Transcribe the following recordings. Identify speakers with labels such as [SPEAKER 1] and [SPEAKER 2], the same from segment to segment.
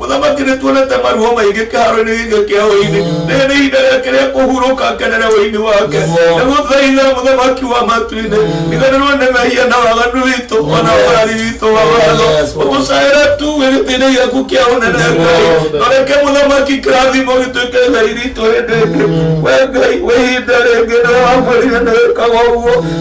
[SPEAKER 1] Mũthamaki nĩtuonete maruo maingĩ kĩharo-inĩ gĩkĩ kĩa ũini rĩrĩ nĩ ihinda rĩake rĩa kũhurũka ngenere ũini wake na gũthaitha mũthamaki wa matu-inĩ riganĩrwo nĩ mehia na waganu witũ ona ũrari witũ wa watho ũgũcaĩra tu wĩ gĩtĩ-inĩ gĩaku kĩa ũnene ngai noreke mũthamaki kĩrathimo gĩtuĩke ngai ritũ hĩndĩ ĩngĩ we ngai wĩ ihinda rĩngĩ nĩ wamwĩrire nĩ wĩkaga ũguo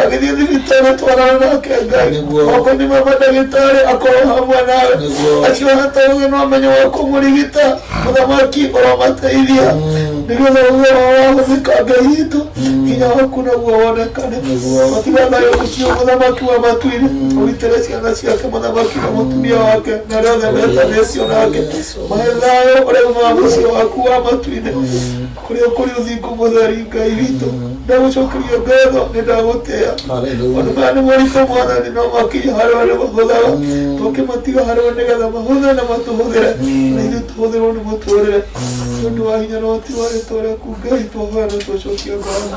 [SPEAKER 1] agĩthiĩ thibitarĩ twarana nake ngai Nĩguo. moko-inĩ ma mandagĩtarĩ akorwo hamwe nawe Nĩguo. acio hatauge no amenye wa kũmũrigita mũthamaki ũromateithia nĩgetha uge wao wahũthĩka ngai witũ hinya waku naguo wonekane Nĩguo. matiganayo ũcio mũthamaki wa matuire ũrutĩre ciana ciake mũthamaki na mũtumia wake na arĩa othe metanĩcio nake mahe thayũ ũrĩa umaga mũciĩ waku wa matuire kũrĩa ũkũrĩ ũthingu mũtheri ngai witũ ndagũcokeria ngatho nĩ ndagũtĩa maũndũ maya nĩ moritũ mwathani no makinya harĩ arĩa mahũthaga tũkĩmatiga harĩ we nĩgetha mahũthe na matũhũthĩre na ithuĩ tũhũthĩrwo nĩ mũtũrĩre nĩ ũndũ wa hinya na ũhoti wa rĩtwa rĩaku ngai twahoya na twacokia ngatho